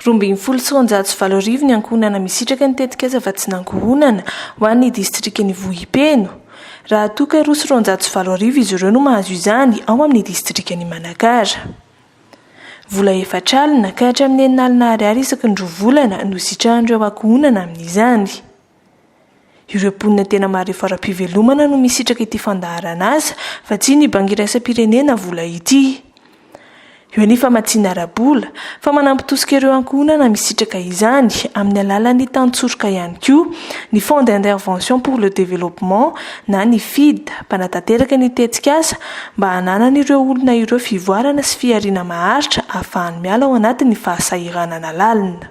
Roa ambin'ny folo sy roanjato sy valo arivo ny ankohonana misitraka ny tetikasa Vatsin'Ankohonana ho an'ny distrikan'i Vohipeno, raha toa ka roa sy roanjato sy valo arivo izy ireo no mahazo izany ao amin'ny distrikan'i Manakara. Vola efatra alina ka hatramin'ny enina alina ariary isaky ny roa volana no sitrahan'ireo ankohonana amin'izany. Ireo mponina tena marefo ara-pivelomana no misitraka ity fandaharan'asa fa tsy ny Banky Iraisam-pirenena vola ity. Eo ny famatsiana ara-bola, fa manampy tosika ireo ankohonana misitraka izany amin'ny alalan'ny tantsoroka ihany koa ny Fonds d'intervention pour le développement na ny Fid mpanatanteraka ny tetikasa mba hananan'ireo olona ireo fivoarana sy fihariana maharitra ahafahany miala ao anatin'ny fahasahiranana lalina.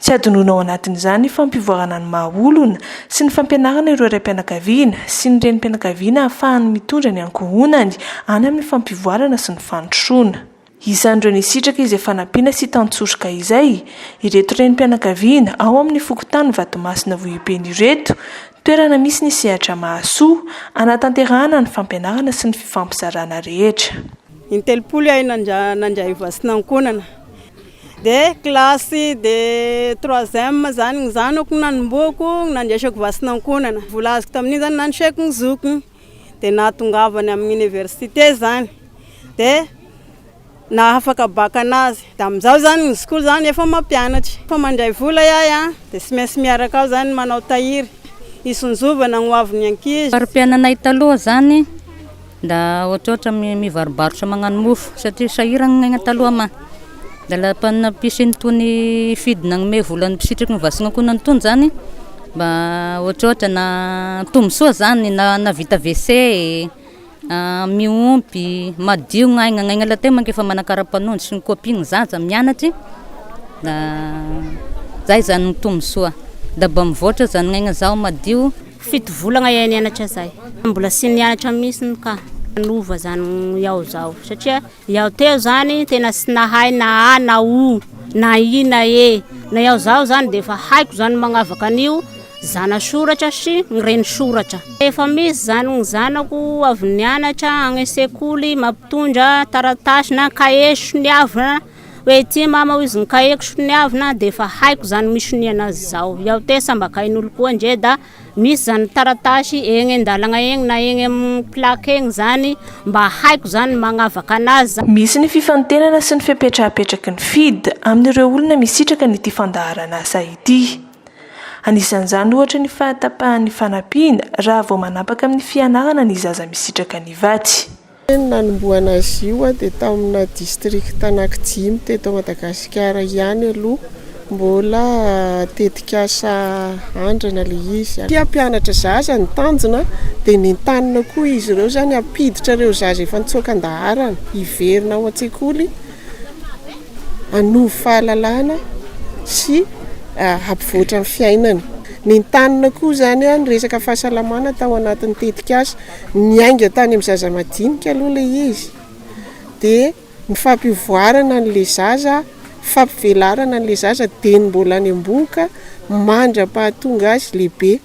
Tsy hadinoina ao anatin'izany ny fampivoarana ny maha olona sy ny fampianarana ireo raim-pianakaviana sy ny renim-pianakaviana hahafahany mitondra ny ankohonany any amin'ny fampivoarana sy ny fandrosoana. Isan'ireo nisitraka izay fanampiana sy tantsoroka izay, ireto renim-pianakaviana ao amin'ny fokontany Vatomasina Vohipeno ireto, toerana misy ny sehatra mahasoa, hanatanterahana ny fampianarana sy ny fifampizarana rehetra. In-telopolo ihay nandray vaccinan'ankohonana. De classe de troisième zany ny zanako no nanombohako nandraisako vatsy ankohonana, vola azoko tamin'iny zany nandriseko ny zokiny de nahatongavany amin'ny université zany de nahafaka bac anazy de amin'izao zany ny zokiko zany efa mampianatra, efa mandray vola ahy a de tsy maintsy miaraka aho zany manao tahiry hisonjovana ny hoavin'ny ankizy. Fari-piainanay taloha zany. Nda ohatrohatra mivarobarotra magnano mofo satria sahiragna ny aigna taloha ma. Dia la panina mpisy nitony hifidy nagnome vola ny mpisitriky ny vasinga koa nanitony zany mba ohatrohatra na tombosoa zany na na vita WC e, miompy, madio ny aigna, ny aigna la teo manko efa manakara-panondro sy ny copie ny zaza mianatry da zay zany ny tombosoa, da mba mivoatra zany ny aigna zaho madio. Fito volagna eeh nianatra zay fa mbola sy nianatra mihitsiny ka nanova zany iaho zao satria iaho teo zany tena sy nahay na a na o na i na e na iaho zaho zany de efa haiko zany magnavaka an'io zanasoratra sy ny renisoratra efa misy zany ny zanako avy nianatra any sekoly mampitondra taratasy na cahier soniavina Hoe ity mama hoy izy ny kaheko soniavina dia efa haiko izany misoniana azy izao. Iao te samba kahin'olo koa ndre da misy izany taratasy egny an-dalagna egny na egny amin'ny plaque egny izany mba haiko izany ny magnavaka anazy. Misy ny fifantenana sy ny fepetra apetraky ny FIDH amin'ireo olona misitraka an'ity fandaharan'asa ity. Anisan'izany ohatra ny fahatapahan'ny fanampiana raha vao manapaka amin'ny fianarana ny zaza misitraka ny vatsy. Ny nanombohana azy io dia tamina district anaky dimy teto Madagasikara ihany aloha, mbola tetikasa andrana le izy. Tia hampianatra zaza ny tanjona dia nentanina koa izy ireo izany hampiditra ireo zaza efa nitsoaka an-daharana hiverina ao an-tsekoly hanovo fahalalana sy hampivoatra ny fiainany. Nentanina koa izany ny resaka fahasalamana tao anatin'ny tetikasa. Niainga tany amin'ny zaza madinika aloha ilay izy, dia ny fampivoarana an'ilay zaza, fampivelarana an'ilay zaza dia ny mbola any am-bohoka mandra-pahatonga azy lehibe.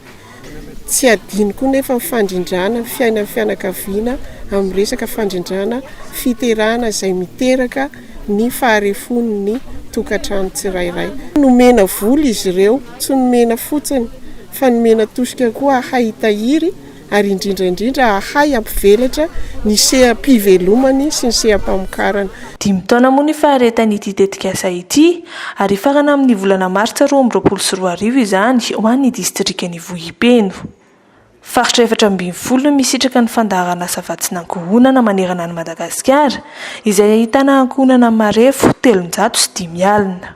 Tsy adino koa nefa ny fandrindrana ny fiainan'ny fianakaviana amin'ny resaka fandrindrana fiterahana izay miteraka ny faharefon'ny tokantrano tsirairay. Nomena vola izy ireo, tsy nomena fotsiny fa nomena tosika koa hay hitahiry. ary indrindra indrindra hahay hampivelatra ny seha-pivelomany sy ny seha-pamokarana. Dimy taona moa ny faharetan'ity tetikasa ity, ary hifarana amin'ny volana martsa roa amby roapolo sy roa arivo izany ho an'ny distrikan'Ivohipeno. Faritra efatra ambin'ny folo no misitraka ny fandaharan'asa vatsin'ankohonana manerana an'i Madagasikara, izay ahitana ankohonana marefo telonjato sy dimy alina.